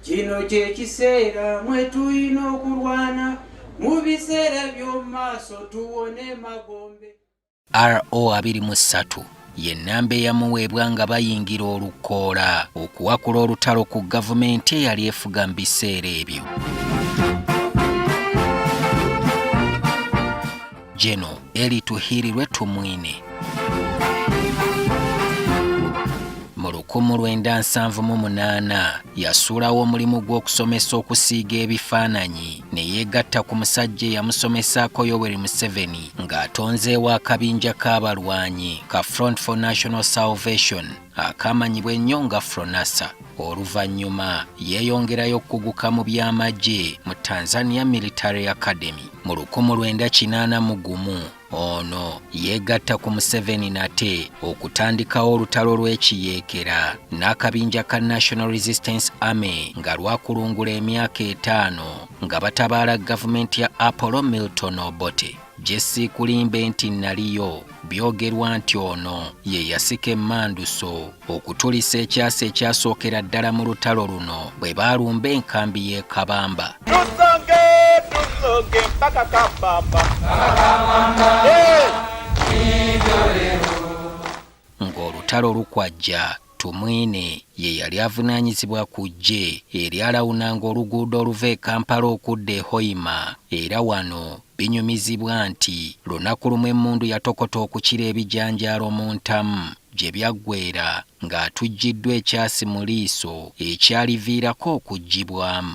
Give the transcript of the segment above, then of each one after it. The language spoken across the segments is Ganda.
Kino kye kiseera mwe tulina okulwana mu biseera by'omu maaso tuwone magombe. RO abiri mu ssatu ye nnamba eyamuweebwa nga bayingira olukoola okuwakula olutalo ku gavumenti eyali efuga mu biseera ebyo. Jeno Eli Tuhirirwe Tumwine. mu lukumu lwenda nsanvu mu munaana yasuulawo omulimu gw'okusomesa okusiiga ebifaananyi ne yeegatta ku musajja eyamusomesaako yoweri museveni ng'atonzeewo akabinja k'abalwanyi ka front for national salvation akaamanyibwa ennyo nga Fronasa oluvannyuma yeeyongerayo okuguka mu by'amagye mu Tanzania Military Academy mu lukumu lwenda kinaana mu gumu ono yeegatta ku Museveni nate okutandikawo olutalo lw'ekiyeekera n'akabinja ka National Resistance Army nga lwakulungula emyaka etaano nga batabaala gavumenti ya Apollo Milton Obote gye siikulimbe nti naliyo byogerwa nti ono ye yasika emmanduso okutulisa ekyasa ekyasookera ddala mu lutalo luno bwe baalumba enkambi y'e kabamba tusonge tusonge mpaka kabamba ng'olutalo lukwajja Tumwine ye yali avunaanyizibwa ku ggye eryalawunanga oluguudo oluva e Kampala okudda e Hoima era wano binyumizibwa nti lunaku lumu emmundu yatokota okukira ebijanjaalo mu ntamu gye byaggweera ng'atujjiddwa ekyasi mu liiso ekyaliviirako okuggyibwamu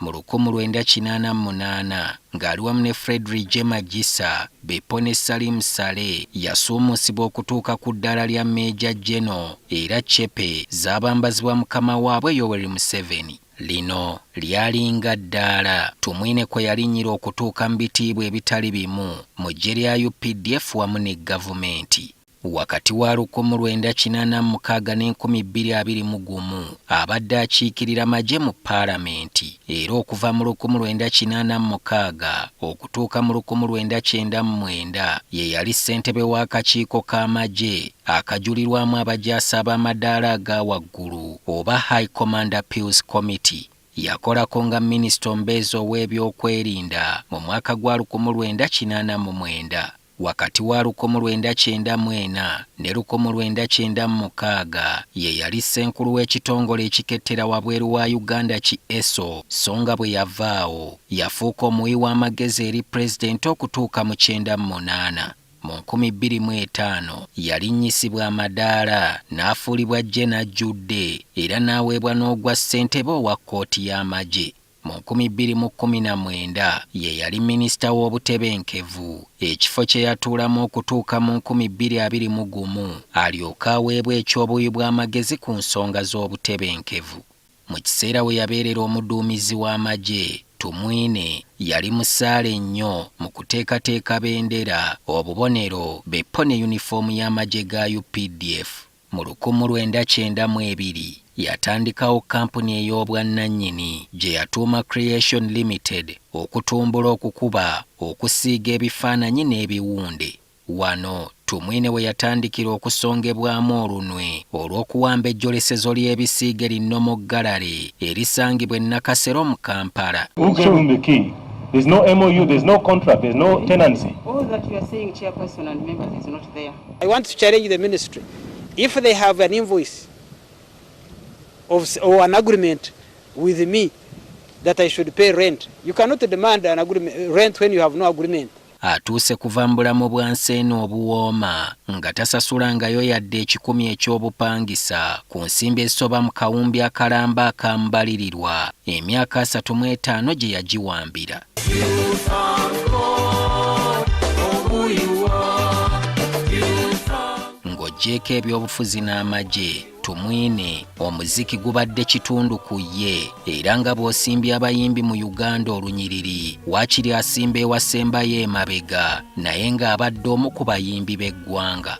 mu lukumu lwenda kinaana mu munaana ng'ali wamu ne Fredrick Jema Gisa, Beppo ne Salim Saleh yasuumusibwa okutuuka ku ddaala lya Meeja Geno era cepe zaabambazibwa mukama waabwe Yoweri Museveni. Lino lyalinga ddaala Tumwine kwe yalinnyira okutuuka mu bitiibwa ebitali bimu mu ggye lya updf wamu ne Gavumenti. Wakati wa lukumi lwenda kinaana mu mukaaga n'enkumi bbiri abiri mu gumu, abadde akiikirira magye mu Palamenti era okuva mu lukumi lwenda kinaana mu mukaaga okutuuka mu lukumi lwenda kyenda mu mwenda ye yali ssentebe w'akakiiko k'amagye akajulirwamu abajaasi ab'amadaala aga waggulu oba High Command Appeals Committee. Yakolako nga minisita omubeezi ow'ebyokwerinda mu mwaka gwa lukumi lwenda kinaana mu mwenda. Wakati wa lukomu lwenda kyenda mu ena ne lukomu lwenda kyenda mu mukaaga ye yali ssenkulu w'ekitongole ekikettera wabweru wa Uganda ki ESO so nga bwe yava awo yafuuka omuwi w'amagezi eri Pulezidenti okutuuka mu kyenda mu munaana. Mu nkumi bbiri mu etaano yalinnyisibwa amadaala n'afuulibwa Gen. Ajjudde era n'aweebwa n'ogwa ssentebe owa kkooti y'amagye. Mu nkumi bbiri mu kkumi na mwenda ye yali minisita w'obutebenkevu, ekifo kye yatuulamu okutuuka mu nkumi bbiri abiri mu gumu alyoke aweebwe eky'obuwi bw'amagezi ku nsonga z'obutebenkevu. Mu kiseera we yabeerera omuduumizi w'amagye, Tumwine yali musaale nnyo mu kuteekateeka bendera, obubonero, beppo ne yunifoomu y'amagye ga updf. Mu lukumu lwenda kyenda mu ebiri yatandikawo kkampuni ey'obwannannyini gye yatuuma Creation Limited okutumbula okukuba, okusiiga ebifaananyi n'ebiwunde. Wano Tumwine we yatandikira okusongebwamu olunwe olw'okuwamba ejjolesezo ly'ebisiige linnomo gallery erisangibwa e Nakasero mu Kampala. I want to challenge the ministry if they have an invoice of, or an agreement with me that I should pay rent. You cannot demand an agreement, rent when you have no agreement. atuuse kuva mu bulamu bwa nseena obuwooma nga tasasulangayo yadde ekikumi eky'obupangisa ku nsimbi ezisoba mu kawumbi akalamba akamubalirirwa emyaka asatu mu etaano gye yagiwambira ng'ogyeko ebyobufuzi n'amagye tumwine omuziki gubadde kitundu ku ye era nga bw'osimbye abayimbi mu uganda olunyiriri waakiri asimba ewasembayo emabega naye ng'abadde omu ku bayimbi b'eggwanga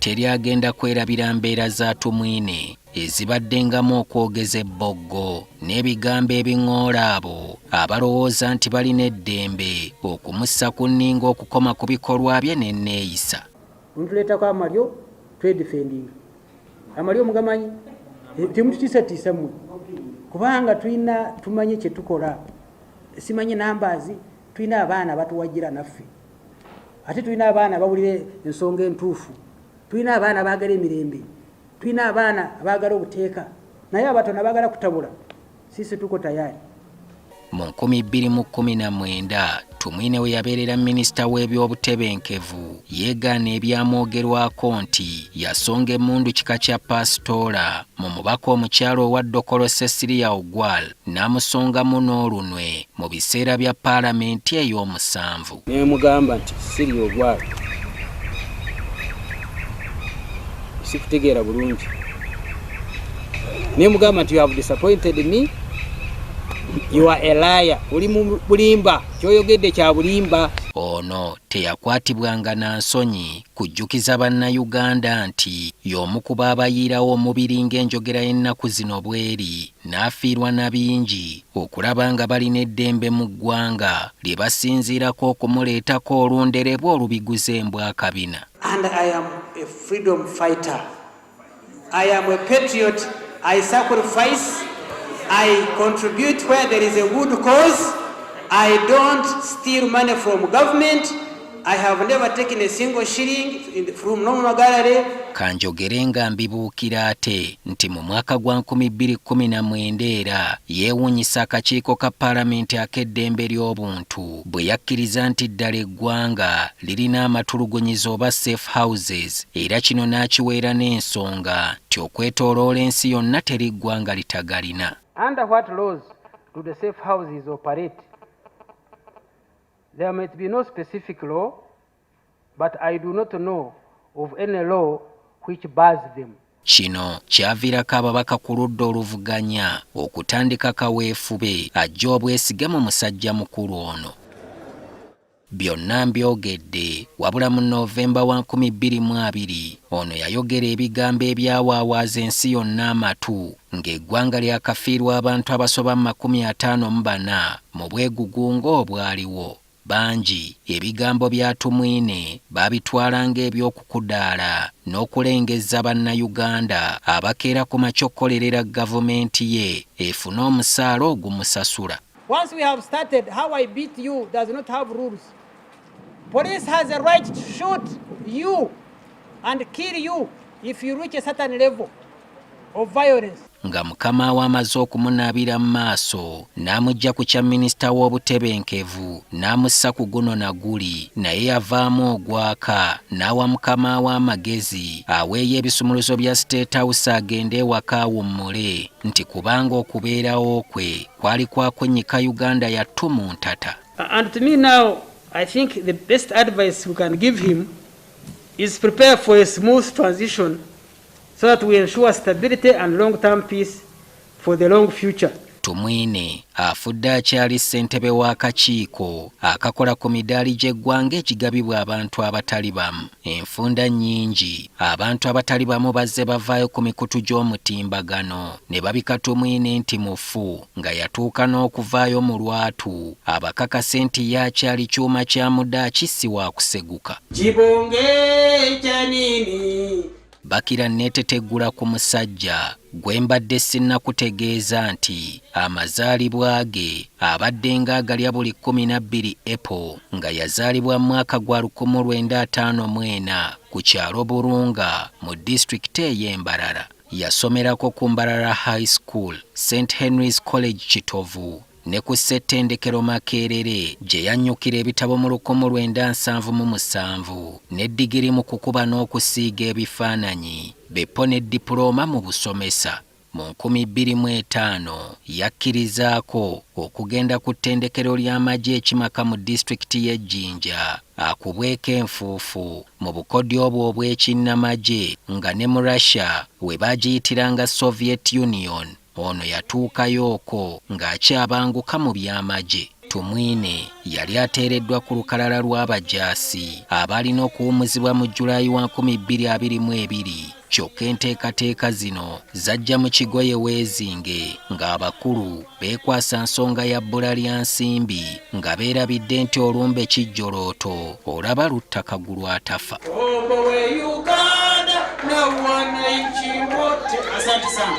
teri agenda kwerabira mbeera za tumwine ezibaddengamu okwogeza ebboggo n'ebigambo ebiŋoola abo abalowooza nti balina eddembe okumussa ku nninga okukoma ku bikolwa bye n'enneeyisa mutuleetako amalyo twedifendinga amalyo mugamanyi eh, temututiisatiisa mwe kubanga tulina tumanyi kyetukola simanyi nambazi tulina abaana abatuwagira naffe ate tulina abaana abawulira ensonga entuufu tulina abaana abaagala emirembe tulina abaana abaagala obuteeka naye abatona baagala kutabula Sisi tuko tayari. Mu 2019 Tumwine we yabeerera minisita w'ebyobutebenkevu yeegaana ebyamwogerwako nti yasonga emmundu kika kya paasitoola mu mubaka omukyala owa Dokolo Cecilia Ogwal n'amusongamu n'olunwe mu biseera bya paalamenti ey'omusanvu. nemugamba nti siri ogwalo sikutegeera bulungi nemugamba nti you have disappointed me you are a liar oli mu bulimba kyoyogedde kya bulimba ono teyakwatibwanga na nsonyi kujjukiza bannayuganda nti y'omu ku baabayiirawo omubiri ng'enjogera y'ennaku zino bweri n'afiirwa na bingi okulaba nga balina eddembe mu ggwanga lye basinziirako okumuleetako olunderebwa olubiguza embwa akabina. And I am a freedom fighter. I am a patriot. I sacrifice. I contribute where there is a good cause. I don't steal money from government. I have never taken a single shilling from Nomwa Gallery. Kanjogere nga mbibuukira ate nti mu mwaka gwa 2019 era yeewunyisa akakiiko ka palamenti ak'eddembe ly'obuntu bwe yakkiriza nti ddala eggwanga lirina amatulugunyizo oba safe houses era kino n'akiweera n'ensonga nti okwetooloola ensi yonna teri ggwanga litagalina. Under what laws do the safe houses operate? There might be no specific law, but I do not know of any law which bars them. Kino kyaviirako ababaka ku ludda oluvuganya okutandika kaweefube ajja obwesige mu musajja mukulu ono. Byonna mbyogedde wabula mu Novemba wa 2020 ono yayogera ebigambo ebyawaawaaza ensi yonna amatu ng'eggwanga lyakafiirwa abantu abasoba mu makumi ataano mu bana mu bwegugungo obwaliwo. Bangi ebigambo bya Tumwine baabitwala ng'eby'okukudaala n'okulengezza Bannayuganda abakeera ku makya okukolerera Gavumenti ye efune omusaala ogumusasula. Once we have started, how I beat you does not have rules. Police has a right to shoot you and kill you if you reach a certain level. of violence. nga mukama we amaze okumunaabira mu maaso n'amujja ku kya minisita w'obutebenkevu n'amussa ku guno na guli naye yavaamu ogwaka n'awa mukama we amagezi aweeyo ebisumuluzo bya state house agende ewaka awummule nti kubanga okubeerawo kwe kwali kwakunnyika uganda yattu mu ntata and to me now i think the best advice we can give him is prepare for a smooth transition so that we ensure stability and long term peace for the long future. Tumwine afudde akyali ssentebe w'akakiiko akakola ku midaali gy'eggwanga ekigabibwa abantu abatali bamu. Enfunda nnyingi abantu abatali bamu bazze bavaayo ku mikutu gy'omutimbagano ne babika Tumwine nti mufu nga yatuuka n'okuvaayo mu lwatu abakakase nti ye akyali kyuma kya mudaaki si waakuseguka. Bakira nneeteteggula ku musajja gwe mbadde sinnakutegeeza nti amazaalibwa ge abaddenga agalya buli kkumi na bbiri April nga yazaalibwa mu mwaka gwa lukumi lwenda ataano mu ena ku kyalo Burunga mu disitulikiti ey'e Mbarara. Yasomerako ku Mbarara High School, St Henry's College Kitovu ne ku ssettendekero Makerere gye yannyukira ebitabo mu lukumu lwenda nsanvu mu musanvu ne digiri mu kukuba n'okusiiga ebifaananyi beppo ne dipulooma mu busomesa. Mu nkumi bbiri mu etaano yakkirizaako okugenda ku ttendekero ly'amagye ekimaka mu disitulikiti y'e Jinja akubweko enfuufu mu bukodyo obwo obw'ekinnamagye nga ne mu Russia we baagiyitiranga Soviet Union, ono yatuukayo okwo ng'akyabanguka mu by'amagye. Tumwine yali ateereddwa ku lukalala lw'abajaasi abaalina okuwumuzibwa mu July wa nkumi bbiri abiri mu ebiri kyokka enteekateeka zino zajja mu kigoye weezinge ng'abakulu beekwasa nsonga ya bbula lya nsimbi nga beerabidde nti olumbe kijjolooto olaba lutta kagulu atafa Asante sana.